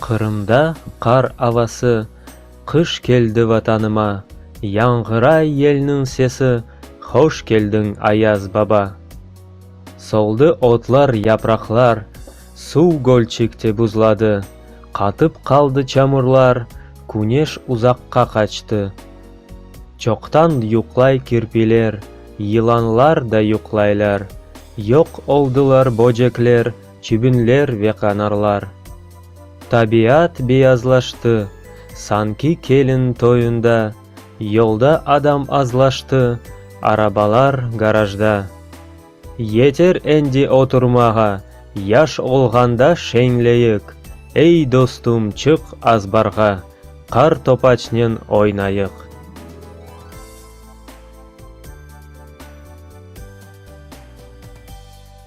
Qırımda qar avası, Qış keldi Vatanıma, Yañğıray yelniñ sesi, Hoş keldiñ, Ayaz baba. Soldı otlar, yapraqlar, Suv gölçekte buzladı, Qatıp qaldı çamurlar, Küneş uzaqqa qaçtı. Çoqtan yuqlay kirpiler, Yılanlar da yuqlaylar, Yoq oldılar böcekler, çibinler ve qanarlar. Tabiat beyazlaştı, sanki kelin toyunda, yolda adam azlaştı, arabalar garajda. Yeter endi oturmağa, yaş olğanda şeñleyik, ey, dostum, çıq azbarğa, qar topaçnen oynayıq.